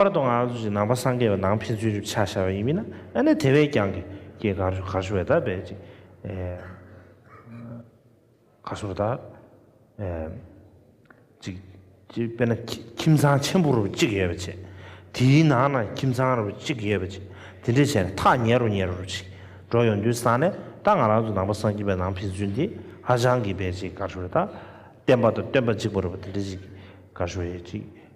པར་དུ་ང་ཚོ་ཞིག་ནང་པ་སངས་རྒྱས་པའི་ནང་ཕན་ཚུན་རིབ་ཆགས་ཤར་བ་ཡིན་མིན་ན་ཨ་ནེ་དེ་བས་རྐྱང་གི་སྐྱེས་གར་ཞུ་གར་ཞུ་བས་ད་བས་ཅིག་གར་ཞུ་བ་ད་ཅིག་ཅིག་དཔེར་ན་ཁྱིམ་ཚང་ཆེན་པོ་རུ་གཅིག་ཡོད་པ་ཆེ་དེའི་ནང་ན་ཁྱིམ་ཚང་རུ་གཅིག་ཡོད་པ་ཆེ་དེ་འདྲས་བྱས་ན་ཐག་ཉེ་རུ་ཉེ་རུ་རུ་ཞིག་འགྲོ་ཡོང་དུས་སང་ནས་ད་ང་རང་ཚོ་ནང་པ་སངས་རྒྱས་པའི་ནང་ཕན་ཚུན་དེ་ཧ་ཅང་གི་བས་ཅིག་གར་ཞུ་བས་ད་བསྟན་པ་དང་སྟོན་པ་གཅིག་པོ་རུ་བ་དེ་འདྲས་ཅིག་གར་ཞུ་བས་ཅིག།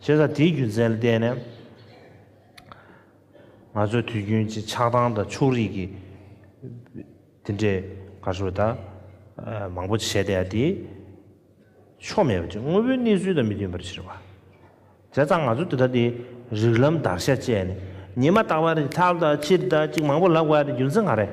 བྱས་ཙང་དེའི་རྒྱུ་མཚན་ལ་བརྟེན་ནས། ང་ཚོའི་དུས་རྒྱུན་གྱི་ཆགས་སྡང་དང་ཕྱུགས་རིགས་ཀྱི་དེ་འདྲའི་གར་སོགས་དག་མང་པོ་བྱས་ཏེ་ཡང་དེ་ཕྱོགས་མེད་པ་ཅིག་དངོས་པོའི་གནས་ཚུལ་དང་མི་མཐུན་པར་ཕྱིར་བ། བྱས་ཙང་ང་ཚོ་དེ་དག་དེ་རིགས་ལམ་བརྡར་ཤ་བཅད་ནས་ཉི་མ་རྟག་པར་ལྷག་དང་ཕྱིར་ལྟ་ཅིག་མང་པོ་ལབ་དགོས་པའི་རྒྱུ་མཚན་གང་རེད།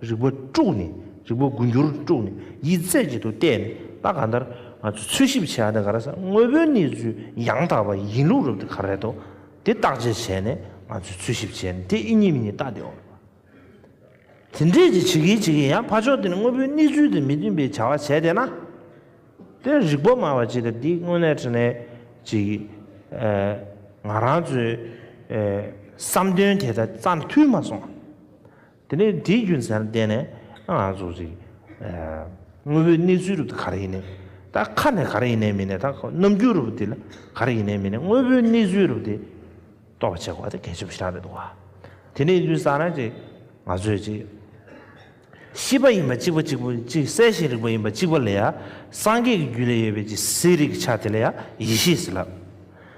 རིག་པ་དཀྲུགས་ནས་རིག་པ་དགུ་འགྱུར་དཀྲུགས་ནས་ཡིད་རྩེ་གཅིག་ཏུ་གཏད་ནས་ད་གང་ལྟར་ང་ཚོས་འཚོལ་ཞིབ་བྱས་ཡག་དེ་ག་རེ་ས་དངོས་པོའི་གནས་ཚུལ་ཡང་དག་པ་ཡིན་ལུགས་རབ་དེ་ག་རེད་དོ་དེ་བརྟག་དཔྱད་བྱས་ནས་ང་ཚོས་འཚོལ་ཞིབ་བྱས་ནས་དེ་ཨེ་ཡིན་མི་ཡིན་བརྟག་དེ་འོང་བ་དེ་འདྲས་ཀྱི་བྱེད་ཀྱི་བྱེད་ཀྱི་ཡང་ཕ་ཕྱོགས་དེ་ནས་དངོས་པོའི་གནས་ཚུལ་དང་མི་མཐུན་པའི་བྱ་བ་བྱས་བསྡད་ན་དེ་རིག་པ་སྨྲ་བ་ཅིག་ལ་འདི་དངོས་གནས་དྲིན་ལན་ཅིག་ང་རང་ཚོའི་བསམ་དོན་དེ་ད་རྩ་མཐུན་མ་སོང། དེ་ནས་དེའི་རྒྱུ་མཚན་ལ་བརྟེན་ནས་ང་ཚོ་ཞིག་དངོས་པོའི་གནས་ཚུལ་རུབ་ཏུ་ག་རེ་ཡིན་ནའི་ད་ཁ་ནས་ག་རེ་ཡིན་ནའི་མིན་ནའི་ད་རྣམ་འགྱུར་རུབ་ཏུ་ག་རེ་ཡིན་ནའི་མིན་ནའི་དངོས་པོའི་གནས་ཚུལ་རུབ་ཏུ་རྟོགས་པ་བྱེད་དགོས་པ་དེ་གལ་ཆེན་པོ་ཞིག་རང་རེད་འདུག་བ། དེ་ནས་དུས་སང་རང་ཅིག་ང་ཚོས་ཅིག་ཤེས་པ་ཡིན་པ་གཅིག་པ་གཅིག་པུ་ཅིག་གསལ་ཞིང་རིག་པ་ཡིན་པ་གཅིག་པ་ལ་ཡང་སངས་རྒྱས་ཀྱི་རྒྱུད་ལས་ཡོད་པའི་ཅིག་གསལ་རིག་གི་ཆ་དེ་ལ་ཡང་ཡེ་ཤེས་ལ།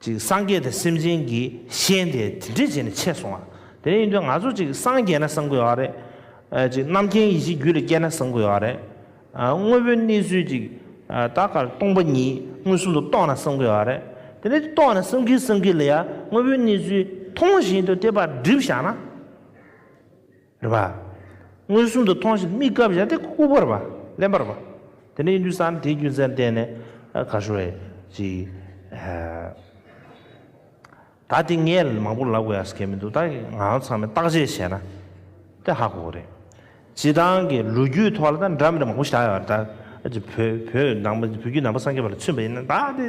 ཅིག་སངས་རྒྱས་དེ་སེམས་ཅན་གྱི་ཤེས་དེ་དེ་འདྲས་བྱས་ནས་ཆད་སོང་བ། དེ་ནས་ཡིན་དུས་ང་ཚོ་ཅིག་སངས་རྒྱས་ན་སངས་དགོས་ཡོད་རེད། ཅིག་རྣམ་མཁྱེན་ཡེ་ཤེས་རྒྱུད་ལ་སྐྱེས་ན་སངས་དགོས་ཡོད་རེད། དངོས་པོའི་གནས་ཚུལ་ཅིག་ད་གར་སྟོང་པ་ཉིད་མངོན་སུམ་དུ་རྟོགས་ན་སངས་དགོས་ཡོད་རེད། དེ་ནས་རྟོགས་ནས་སེམས་ཀྱི་སེམས་ཀྱི་ལ་ཡ་དངོས་པོའི་གནས་ཚུལ་མཐོང་བཞིན་དུ་དེ་པར་སྒྲིབ་བཞག་ན། རེ་བ། མངོན་སུམ་དུ་མཐོང་ཞིང་དམིགས་བཀར་བྱ་སྟེ་སྐུ་བར་བ། ལན་བར་བ། དེ་ནས་ཡུན་དུ་སངས་དེའི་རྒྱུ་མཚན་བསྟན་ནས། གར་ཤོར་བས། ཅི། ད་དེ་ངས་མང་པོ་ལབ་དགོས་ཡ་སྐད་མི་འདུག་ད་ང་ཚང་མས་བརྟག་དཔྱད་བྱས་ན། དེ་ཧ་གོ་རེད། སྤྱི་དང་གི་ལོ་རྒྱུས་ཐོག་ལ་ད་འདྲ་མི་འདྲ་མང་པོ་བཞག་ཡོད་རེད་ད། བོད་བོད་ནང་བོད་བརྒྱུད་ནང་པ་སངས་རྒྱས་པ་ལ་མཚོན་པ་ཡིན་ན་ད་དེ།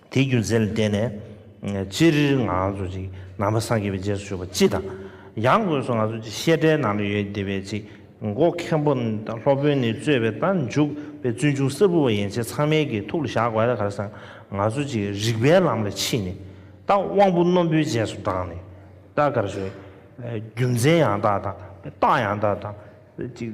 དེའི་རྒྱུ་མཚན་ལ་བརྟེན་ནས། སྤྱིར་ང་ཚོ་ཅིག་ནང་པ་སངས་རྒྱས་པའི་རྗེས་སུ་ཞུགས་པ་སྤྱི་དང། ཡང་སྒོས་སུ་ང་ཚོ་ཅིག་བཤད་གྲྭའི་ནང་དུ་ཡོད་བདེ་བའི་ཅིག་མགོ་མཁན་པོ་དང་སློབ་དཔོན་ནི་རྩོད་པའི་རྟ་མཇུག་པའི་བཙུན་ཆུང་གསར་བུ་བ་ཡན་ཆད་ཚང་མའི་གི་ཐུགས་ལ་བཞག་དགོས་ད་ག་རེ་ཟང་ང་ཚོ་ཅིག་རིག་པའི་ལམ་ལ་ཕྱིན་ནས་ད་དབང་པོ་རྣོན་པོའི་རྗེས་སུ་འབྲངས་ནས་ད་ག་རེ་བྱུང། རྒྱུ་མཚན་ཡང་དག་དང་རྟགས་ཡང་དག་དང་ཅིག།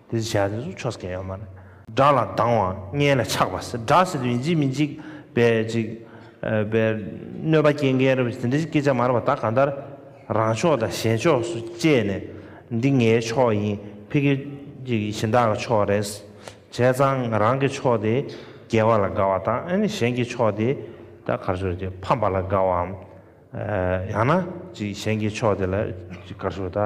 དེ་ཚོ་བྱས་ན་དེ་ཚོ་ཆོ་ཟ་ག་ཡོད་མ་རེད། སྒྲ་ལ་སྡང་བ་མངལ་ལ་ཆགས་པ་སེར་སྒྲ་ཟེར་དུས་ཡིན་གཅིག་མིན་གཅིག་བས་ཅིག་བས་གནོད་པ་སྐྱེལ་མཁན་རེད་བས་དེ་འདྲ་ཞིག་སྐད་ཆ་མ་རེད་བ་ད་གང་ལྟར་རང་ཕྱོགས་དང་གཞན་ཕྱོགས་སུ་བཅད་ནས་འདི་ངའི་ཕྱོགས་ཡིན་ཕི་གེ་ཅིག་གཞི་བདག་གི་ཕྱོགས་རེད་བྱས་ཙང་རང་གི་ཕྱོགས་དེ་རྒྱལ་བ་ལ་དགའ་བ་དང་ཨ་ནི་གཞན་གྱི་ཕྱོགས་དེ་ད་གར་ཕྱོགས་ཅིག་ཕམ་པ་ལ་དགའ་བའམ་ཡང་ན་ཅིག་གཞན་གྱི་ཕྱོགས་དེ་ལ་ཅིག་གར་ཕྱོགས་ད།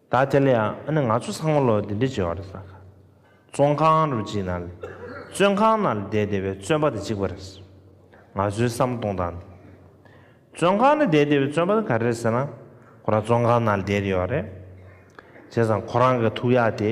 ད་དེ་ལ་ཡང་ཨ་ནི་ང་ཚོ་ཚང་མ་ལོ་འདི་འདྲའི་བྱེ་བ་རེད་ས་ཁ་བཙོང་ཁང་རུ་གཅིག་ན་ལས་བཙོན་ཁང་ན་ལས་བསྡད་བསྡད་པའི་བཙོན་པ་དེ་གཅིག་པ་རེད་ས་ང་ཚོའི་བསམ་སྟོང་དང་འདི་བཙོན་ཁང་ན་བསྡད་བསྡད་པའི་བཙོན་པ་དེ་ག་རེ་རེད་ཟེར་ན་ཁོ་རང་བཙོན་ཁང་ན་ལས་བསྡད་ཡོད་རེད་བྱས་ཙང་ཁོ་རང་གི་ཐུགས་ཡག་དེ།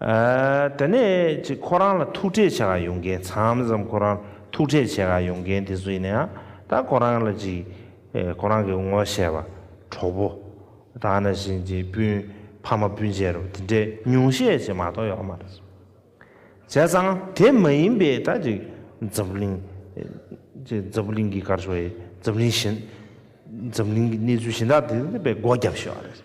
དེ་ནས་ཅིག་ཁོ་རང་ལ་ཐུག་འཕྲད་བྱེད་ཀ་ཡོང་མཁན་མཚམས་མཚམས་ཁོ་རང་ཐུག་འཕྲད་བྱེད་ཀ་ཡོང་མཁན་དེ་ཚོ་ཡིན་ཡང་ད་ཁོ་རང་ལ་ཅིག་ཁོ་རང་གི་ངོ་ཤེས་པ་གྲོགས་པོ་ད་ན་བཞིན་ཅིག་སྤུན་ཕ་མ་སྤུན་མཆེད་རོ་དེ་འདྲའི་ཉུང་ཤས་ཅིག་མ་གཏོགས་ཡོད་མ་རེད། བྱས་ཙང་དེ་མ་ཡིན་པའི་ད་ཅིག་འཛམ་གླིང་ཅིག་འཛམ་གླིང་གི་སྐར་ཆོག་ཡིན་འཛམ་གླིང་གཞན་འཛམ་གླིང་གི་གནས་ཚུལ་གཞན་དག་དེ་འདི་པའི་སྒོ་རྒྱབ་ཤོག་ཨ་རེད།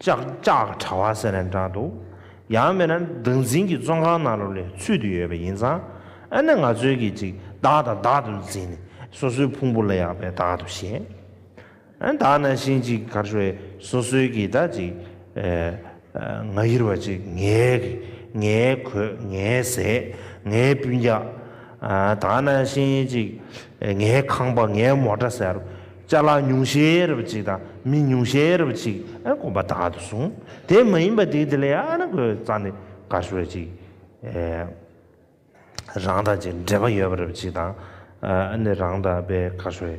ཅག་ཅག་གྲྭ་བ་ཟེར་ནས་འདྲ་འདུག་ཡང་མིན་ན་བདག་འཛིན་གྱི་བཙོན་ཁང་ནང་རུ་ལས་ཚུད་དུ་ཡོད་པ་ཡིན་ཙང་ཨ་ནི་ང་ཚོའི་གིས་ཅིག་བདག་དང་བདག་ཏུ་འཛིན་ནས་སོ་སོའི་ཕུང་པོ་ལ་ཡག་པའི་བདག་ཏུ་བྱེད་ཨ་བདག་ན་ཤིང་ཅིག་གར་ཤོར་སོ་སོའི་གིས་བདག་ཅིག་ང་ཡིར་བ་ཅིག་ངའི་གིས་ངའི་གོས་ངའི་ཟས་ངའི་སྤུན་རྒྱགས་ཨ་བདག་ན་ཤིང་ཅིག་ངའི་ཁང་པ་ངའི་མོ་འདྲ་ཟེར། ལྕགས་ལ་ཉུང་ཤས་རབ་ཅིག་དང་མི་ཉུང་ཤས་རབ་ཅིག་དགོས་པ་དག་ཏུ་གསུངས། དེ་མ་ཡིན་པ་དེ་དེ་ལས་ཨ་ན་གོའི་རྩ་ནི་ག་ཤོད་ཅིག་རང་དང་ཅིག་འབྲེལ་པ་ཡོད་པ་རབ་ཅིག་དང་ཨ་ནི་རང་དང་པའི་ག་ཤོད།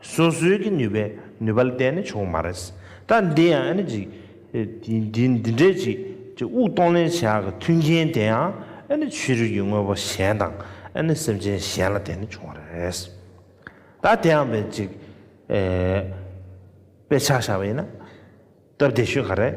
སོ་སོའི་གི་ནུས་པའི་ནུས་པ་ལ་བལྟས་ནས་བྱུང་བ་མ་རེད། ད་འདི་ཡང་ཨ་ནི་ཅིག། འདི་འདི་འདྲས་ཅིག་ཅིག་དབུགས་གཏོང་ལེན་བྱ་གི་མཐུན་རྐྱེན་དེ་ཡང་ཨ་ནི་ཆོས་རིག་གི་དངོས་པོ་གཞན་དང་ཨ་ནི་སེམས་ཅན་གཞན་ལ་བལྟས་ནས་བྱུང་བ་རེད། ད་དེ་ཡང་བས་ཅིག། དཔེ་ཆ་བཞག་པ་ཡིན་ན་སྟབས་བདེ་ཤོས་ག་རེད།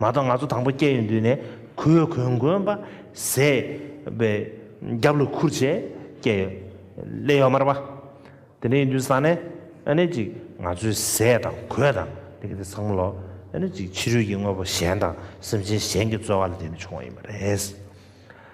མ་གཏོགས་ང་ཚོ་དང་པོ་སྐྱེ་ཡུལ་འདུས་ནས་གུས་གུས་མགོན་པ་ཟས་པའི་རྒྱབ་ལོ་ཁུར་བྱས་སྐྱེ་ཡོད་ཀླད་ཡོད་མར་པ་དེ་འདྲ་ཡིན་དུས་ས་ནས་ཨ་ནི་ཅིག་ང་ཚོའི་ཟས་དང་གོས་དང་དེ་གི་དེ་བསགས་མ་ལོ་ཨ་ནི་ཅིག་ཕྱི་རོལ་གྱི་དངོས་པོ་གཞན་དང་སེམས་ཅན་གཞན་གྱི་རྩོལ་བ་ལ་བརྟེན་ནས་བྱུང་བ་ཡིན་པ་རེད།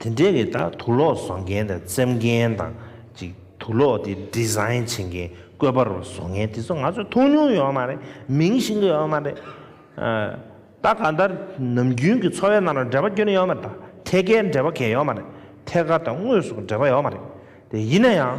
དེ་འདྲའི་རིགས་དག་དུག་ལོག་བཟོ་མཁན་དང་བཙེམ་མཁན་དང། ཅིག་དུག་ལོག་དེ Design བྱེད་མཁན་བཀོད་པ་རུ་བཟོ་མཁན་དེ་ཚོ་ང་ཚོས་མཐོང་མྱོང་ཡོད་མ་རེད། མིང་ཤེས་ཀྱི་ཡོད་མ་རེད། ད་གང་ལྟར་ནམ་རྒྱུན་གྱི་འཚོ་བའི་ནང་ལ་འབྲེལ་བ་སྐྱོན་ཡོད་མ་རེད། ཐད་ཀའི་འབྲེལ་བ་གལ་ཡོད་མ་རེད། ཐད་ཀ་དང་དངོས་སུ་འབྲེལ་བ་ཡོད་མ་རེད། དེ་ཡིན་ན་ཡང།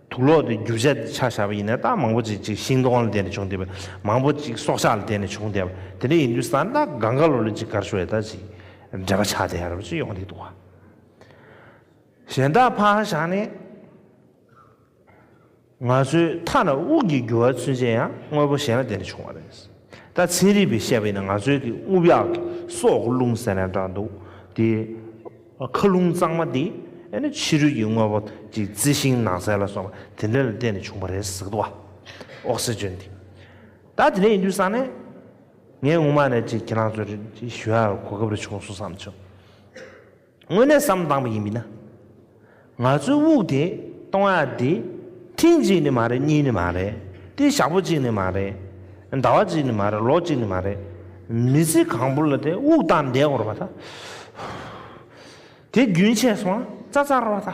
དུག་ལོག་དེ་རྒྱུ་བྱས་ཏེ་ཆགས་བྱ་བ་ཡིན་ནའི་རྟགས་མང་པོ་ཅིག་ཅིག་ཤིང་སྡོང་ལ་བརྟེན་ནས་བྱུང་སྟེ། མང་པོ་ཅིག་སྲོག་ཆགས་ལ་བརྟེན་ནས་བྱུང་སྟེ། དེ་འདྲ་ཡིན་དུས་ས་རྟགས་གང་ག་ལོ་ལོ་ཅིག་གར་བྱུང་བའི་རྟགས་ཅིག་འབྲེལ་པ་ཆགས་ཏེ་རབ་ཅིག་ཡོང་སྟེ་དུག་གཞན་རྟགས་འཕགས་ཧ་ཤང་ནི། ང་ཚོའི་མཐའ་ན་དབུགས་ཀྱི་རྒྱུ་བ་ཚུན་ཆད་ཡང་དངོས་པོ་གཞན་ལ་བརྟེན་ནས་བྱུང་བ་རེད། ད་ཚན་རིག་པས་བཤད་པ་ཡིན་ན་ང་ཚོའི་གི་རྔུབ་གཡག་གི་སྲོག་རླུང་ཟེར་ན་འདྲ་འདུག་དེ། མཁའ་རླུང་གཙང་མ་འདི་ཨེ་ནི་ཕྱི་རོལ་གྱི་དངོས་པོ་གཅིག་རྩི་ཤིང་ནགས་ཚལ་ལ་སོགས་པ་དེ་འདྲ་ལ་བརྟེན་ནས་བྱུང་བ་རེད་ཟེར་གི་འདུག་ཨོག་སི་ཅོན་འདི། ད་དེ་འདྲ་ཡིན་དུས་བསམ་ནས། ངས་སྔོན་མ་ནས་ཅིག་ཁྱེད་རང་ཚོར་ཅིག་ཞུ་ཡག་གོ་སྐབས་རེ་བྱུང་སོང་བསམ་བྱུང། དངོས་གནས་བསམ་བཏང་བ་ཡིན་མིན་ན། ང་ཚོའི་དབུགས་དེ་གཏོང་ཡ་དེ། ཐེངས་གཅིག་ནི་མ་རེད་གཉིས་ནི་མ་རེད། དེ་ཞག་པོ་གཅིག་ནི་མ་རེད། ཟླ་བ་གཅིག་ནི་མ་རེད་ལོ་གཅིག་ནི་མ་རེད། མི་ཚེ་གང་པོ་ལ་དེ་དབུགས་བཏང་བསྡད་དགོས་ར་བ་ད། དེ་རྒྱུན་ཆད་སོང་ང་རྩ་རྩ་ར་བ་ད།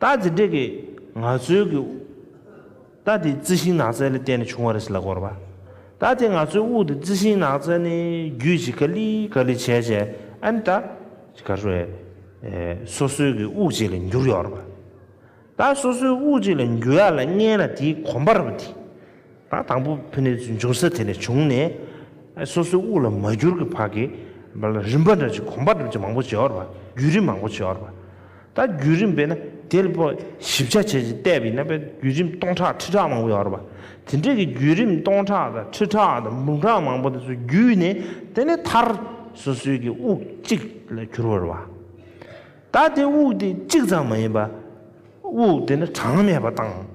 རྟགས་དེ་འདྲས་ཀྱི་ན་ཚོད་ཀྱི། རྟགས་དེ་རྩི་ཤིང་ནགས་ཚལ་ལས་བསྟན་ནས་བྱུང་བ་རེད་ཟེར་ལ་གོ་རེ་བ། རྟགས་དེ་ན་ཚོད་དབུགས་དེ་རྩི་ཤིང་ནགས་ཚལ་ནས་རྒྱུད་ཅིག་ག་ལི་ག་ལི་བྱས་བྱས་ཨན་ད། གར་བས། སོ་སོའི་གི་དབུགས་ཅིག་ལ་འགྱུར་ཡོང་བ་རེད་བ། རྟགས་སོ་སོའི་དབུགས་ཅིག་ལ་འགྱུར་ཡ་ལ་བརྙན་ལ་དེའི་གོམས་པ་རེད་བ་དེ། དང་དང་པོ་ཕུ་ནུའི་འབྱུང་ས་དེ་ནས་བྱུང་ནས་སོ་སོའི་དབུགས་ལ་མ་གྱུར་གྱི་བར་གྱི་རིམ་པ་འདྲ་ཅིག་གོམས་པ་འདྲ་ཅིག་མང་པོ་བྱེད་བར་བ་རྒྱུད་རིམ་མང་པོ་བྱེད་བར་བ་ད་རྒྱུད་རིམ་པས་ན་དེ་ལ་པོ་ཞིབ་ཆ་བྱས་ཅིང་བལྟས་པས་ན་པའི་རྒྱུད་རིམ་སྟོང་ཕྲག་ཁྲི་ཕྲག་མང་པོ་ཡོད་བར་བ་དེ་འདྲ་གི་རྒྱུད་རིམ་སྟོང་ཕྲག་དང་ཁྲི་ཕྲག་དང་འབུམ་ཕྲག་མང་པོ་དེ་ཚོ་བརྒྱུད་ནས་དེ་ནས་མཐར་སོ་སོའི་གྱི་དབུགས་གཅིག་ལ་གྱུར་བར་བ། ད་དེ་དབུགས་དེ་གཅིག་ཙམ་མ་ཡིན་པ་དབུགས་དེ་ནི་གྲངས་མེད་པ་དང།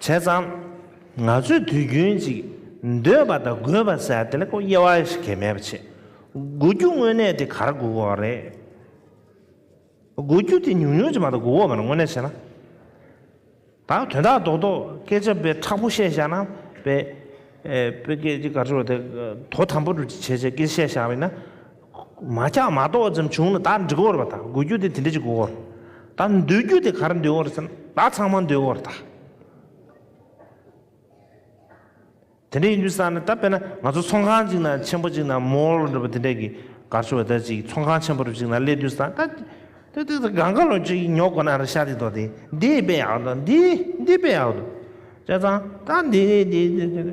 བྱས་ཙང། ང་ཚོས་དུས་རྒྱུན་ཅིག་འདོད་པ་དང་དགོས་པ་བསལ་ཏེ་ལེགས་པོ་དབྱེ་བ་ཞིག་གེ་མེད་པ་བྱས། དགུ་རྒྱུ་དངོས་གནས་དེ་གར་དགུ་བ་རེད། དགུ་རྒྱུ་དེ་ཉུང་ཉུང་ཅིག་མ་གཏོགས་དགུ་བ་མ་རེད་དངོས་གནས་བྱས་ན། ད་དོན་དག་རྡོག་རྡོག་སྐད་ཆ་དཔེ་ཁྲག་པོ་བཤད་བཞག་ན་དཔེ། དཔེ་སྐད་ཅིག་ག་ཚོད་དེ་དོ་དམ་པོ་བྱས་བྱས་སྐད་ཆ་བཤད་བཞག་པས་ན། མ་ཆགས་མ་རྟོགས་ཙམ་བྱུང་ན་བདག་འདྲི་འོར་བ་དང་དགོས་རྒྱུ་དེ་དེ་འདྲ་ཅིག་དགོས་འོར། བདག་འདོད་རྒྱུ་དེ་གར་འདོད་འོར་ཟེར་ན་བདག་ཚང་མ་འདོད་འོར་དང། དེ་འདྲ་ཡིན་དུས་ས་ནི་ད་དཔེར་ན་ང་ཚོ་ཚོང་ཁང་གཅིག་ན་ཆེན་པོ་གཅིག་ན mall འདྲ་པོ་དེ་འདྲ་གི་གར་ཆུ་བ་དེ་ཅིག་ཚོང་ཁང་ཆེན་པོ་རུ་ཅིག་ན་སླེབས་དུས་ས་ད་དེ་དེ་དེ་གང་ག་ལོ་ཅིག་ཉོ་དགོས་ན་ར་ཤ་དེ་དོ་དེ་འདི་དཔེ་ཡག་དོ་འདི་འདི་དཔེ་ཡག་དོ་བྱས་ཙང་ད་འདི་འདི་འདི་འདི་འདི་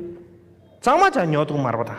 ཚང་མ་ཆ་ཉོ་དུ་མར་བ་དང།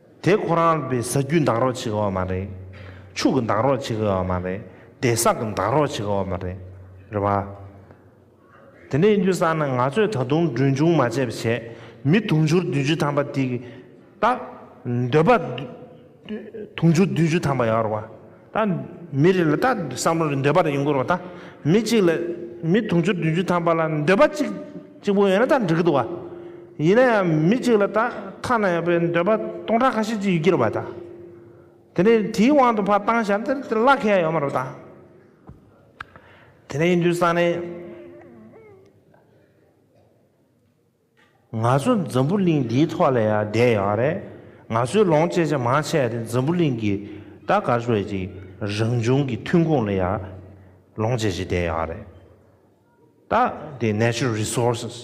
དེ་ཁོ་རང་པའི་ཟ་རྒྱུའི་འདང་རོགས་བྱེད་ཀའོ་མ་རེད། ཕྱུགས་ཀྱི་འདང་རོགས་བྱེད་ཀའོ་མ་རེད་དེ་བསགས་ཀྱི་འདང་རོགས་བྱེད་ཀའོ་མ་རེད། རེད་བ། དེ་འདྲའི་ཡིན་རྒྱུ་བསགས་ན་ང་ཚོས་ད་དུང་གྲོན་ཆུང་མ་བྱས་པ་བྱས་མི་དུང་ཕྱུར་བདུན་བཅུ་ཐམ་པ་དེ་གི་རྟགས་འདོད་པ་དུང་ཕྱུར་བདུན་བཅུ་ཐམ་པ་ཡོད་རེད་བ། ད་མི་རེ་ལ་ད་བསམ་བློ་རེ་འདོད་པ་རེ་ཡོང་གི་རོགས་ད་མི་གཅིག་ལ་མི་དུང་ཕྱུར་བདུན་ཅུ་ཐམ་པ་ལ་འདོད་པ་གཅིག་གཅིག་པོ་ཡོད་ན་ད་འགྲིག་གི་འདུག་ག་ཡིན་ན་ཡང་མི་གཅིག་ལ་ད་ཐ་ན་ཡང་པའི་འདོད་པ་སྟོང་ཕྲག་ཁ་ཤས་ཅིག་ཡོད་ཀྱི་རེད་བ་ད་དེ་ནས་དེའི་དབང་དུ་ཕ་བཏང་ཞབས་འདིར་དེ་བླ་ཁེ་ཡ་ཡོད་མ་རོགས་ད། དེ་ནས་ཡིན་དུས་སང་ནས། ང་ཚོ་འཛམ་བུ་གླིང་འདིའི་ཐོག་ལ་ཡང་བསྡད་ཡོད་པ་རེད། ང་ཚོའི་ལོངས་སྤྱད་ཆ་མང་ཆེ་བ་དེ་འཛམ་བུ་གླིང་གི་ད་གར་བའི་ཅིག་རང་བྱུང་གི་ཐོན་ཁུངས་ལ་ཡང་ལོངས་སྤྱད་བྱེད་བསྡད་ཡོད་པ་རེད། ད་དེ Natural Resources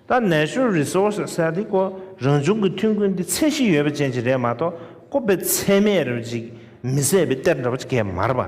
ད Natural Resources ཟེར་དེ་ཀོ་རང་བྱུང་གི་ཐོན་ཁུངས་འདི་ཚད་གཞི་ཡོད་པ་ཅན་ཅིག་རེད་མ་གཏོགས་ཀོ་པའི་ཚད་མེད་རེ་བ་ཅིག་མི་བཟད་པའི་གཏེར་འདྲ་བ་ཅིག་གས་མ་རེད་པ།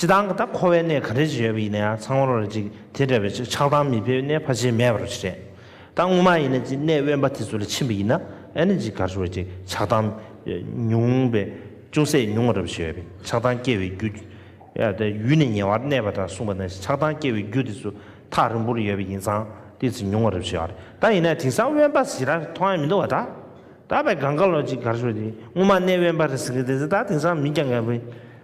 སྤྱི་དང་ད་འཁོ་བའི་གནས་ག་རེ་ཞིག་ཡོད་པ་ཡིན་ན་ཡང་ཚང་བར་རེད་ཅིག་དེ་འདྲ་བའི་ཆ་ཆགས་སྡང་མི་ཕལ་བའི་གནས་ཕ་ཆེ་མེད་པ་རོ་ཞིག་རེད། ད་དངོས་མ་ཡིན་ན་ཅིག་གནས་དབེན་པ་དེ་ཚོ་ལ་ཕྱིན་པ་ཡིན་ན་ཨེ་ན་ཅིག་གར་ཞུ་བ་ཅིག་ཆགས་སྡང་ཉུང་བས་ཅུང་ཟད་ཉུང་བ་འདྲ་བ་ཞིག་ཡོད་པས་ཆགས་སྡང་སྐྱེ་བའི་རྒྱུ། ཡུལ་ནི་ཉེ་བར་གནས་པ་འདྲ་གསུངས་པ་ན་ཆགས་སྡང་སྐྱེ་བའི་རྒྱུ་དེ་ཚོ་ཐག་རིང་པོར་ཡོད་པ་ཡིན་ཙང་ཏིལ་ཙིག་ཉུང་བ་འདྲ་བ་ཞིག་ཡོད་རེད་ད་ཡིན་ན་དེང་སང་དབེན་པ་ཟེར་ར་མཐོང་ཡ་མི་འདུག་བ་ད་ད་བས་གངས་དཀར་ལོ་ཅིག་གར་ཞུ་བ་ཅིག་དངོས་མ་གནས་དབེན་པ་རེད་ཟེར་གི་དེ་ཚོ་ད་དེང་སང་མིན་ཀྱང་ཀ་བས།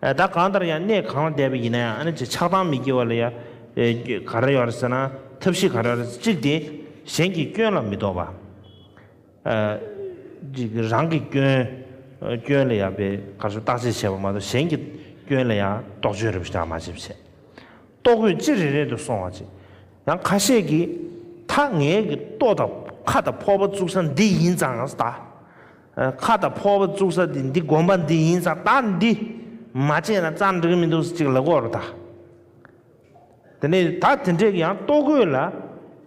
བདག་གང་ལྟར་ཡང་གནས་གང་ལ་བསྡད་པ་ཡིན་ན་ཡང་ཆགས་སྡང་མི་སྐྱེ་བ་ལ་ཡང་ག་རེ་ཡོད་རེད་ཟེར་ན་ཐབས་ཤེས་ག་རེ་ཡོད་རེད་ཟེར་གཅིག་དེ་གཞན་གྱི་སྐྱོན་ལ་མི་དོགས་པ། གཅིག་རང་གི་སྐྱོན་ལ་ཡང་པའི་ག་རེ་ཟུར་བརྟག་དཔྱད་བྱེད་པ་མ་གཏོགས་གཞན་གྱི་སྐྱོན་ལ་ཡང་རྟོག་དཔྱོད་རེ་ཞིག་མ་བྱེད་བྱས། ལྟོ་གོས་ཅི་རེ་རེ་དུ་སོང་བ་ཅིག་ཡང་ཁ་ཤས་ཀྱིས་ཐག་ངད་ཀྱི་ལྟོ་དང་ཁ་དང་ཕོར་པ་བཙུགས་ས་འདི་ཡིན་ཙང་ད། ཁ་དང་ཕོར་བ་བཙུགས་ས་དེ་འདི་དགོན་པ་འདི་ཡིན་ས་ད་འདི་མ་བྱས་ན་རྩ་འགྲིག་མི་འདུག་ཟེར་ཅིག་ལ་གོ་རོ་ད། དེ་ནས་ད་དེ་འདྲས་ཀྱི་ཡང་ལྟོ་གོས་ལ་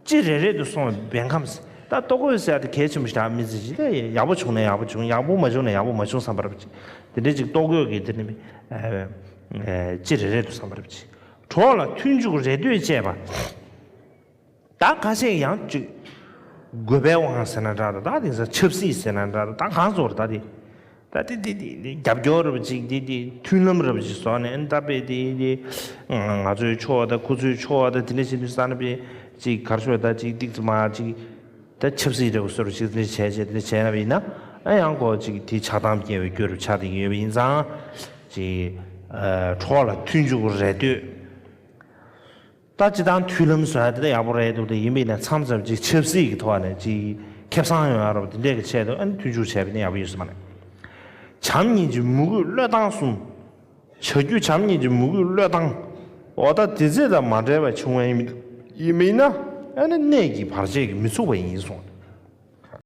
ཅི་རེ་རེད་དུ་སོང་བའི་བན་ཁམས་སེ་ད་ལྟོ་གོས་ཟེར་ཡག་དེ་གལ་ཆེན་པོ་ཞིག་དྲག་མི་ཟེར་ཅིག་ད་ཡག་པོ་བྱུང་ན་ཡག་པོ་བྱུང་ཡག་པོ་མ་བྱུང་ན་ཡག་པོ་མ་བྱུང་བསམ་པར་བྱེད་དེ་འདྲས་ཅིག་ལྟོ་གོས་ཀྱི་དེ་ནི་ཅི་རེ་རེད་དུ་བསམ་པར་བྱེད་གྲོགས་ལ་མཐུན་འཇུག་རེ་ལྟོས་བཅས་པ། ད་ཁ་ཤས་ཡང་བཅོས། དགོས་པའི་དབང་ཟེར་ན་འདྲ་དང་ད་དེ་ས་ཆབ་སྲིད་ཟེར་ན་འདྲ་དང་ད་གང་བཟོར་ད་དེ། ད་དེ་དེ་དེ་དེ་རྒྱབ་སྐྱོར་རབ་ཅིག་དེ་དེ་མཐུན་ལམ་རབ་ཅིག་བཟོ་ནས་ད་དཔེ་དེ་དེ། ང་ཚོའི་ཕྱོགས་ད་ཁོ་ཚོའི་ཕྱོགས་ད་དེ་འདྲ་བྱེད་དུས་ས་ན་དཔེ་ཅིག་གར་ཤོག་ད་ཅིག་ཏིག་ཙི་མ་ཅིག། ད་ཆབ་སྲིད་འདྲ་བོ་བཟོ་རུ་ཅིག་དེ་འདྲ་བྱས་བྱས་དེ་འདྲ་བྱས་ན་བས་ན་ཨ་ཡང་ཀོ་ཅིག་དེ་ཆགས་སྡང་སྐྱེ་བའི་རྒྱུ་རུ་ཆགས་སྡིང་ཡོད་པ་ཡིན་ཙང། ཅིག། གྲོགས་ལ་མཐུན་འཇུག་རེ་ལྟོས། ད་སྤྱི་དང་མཐུན་ལམ་བཟོ་ཡ་དེ་འདྲ་ཡག་པོ་རེད་འདུག་དེ་ཡིན་པའི་ནས་མཚམས་བཞག་པ་གཅིག་ཆབ་སྲིད་ཀྱི་ཐོག་ནས་གཅིག་ཁེབ་སང་ཡོང་ཡ་རོགས་དེ་འདྲས་ཀྱི་ཆེད་དུ་ཨ་ནི་མཐུན་འཇུག་བྱས་པའི་ནས་ཡག་པོ་ཡོད་སྲིད་པ་རེད། བྱམས་གཉིས་ཀྱི་མུ་གུས་བློས་བཏང་གསུམ། བྱ་རྒྱུ་བྱམས་གཉིས་ཀྱི་མུ་གུས་བློས་བཏང། འོ་ད་དེ་རྫས་དང་མ་འབྲེལ་བའི་བྱུང་བ་ཡིན་མིན་ན་ཨ་ནི་གནད་ཀྱིས་བར་ཆད་ཀྱིས་མི་ཚུགས་པ་ཡིན་གསུངས།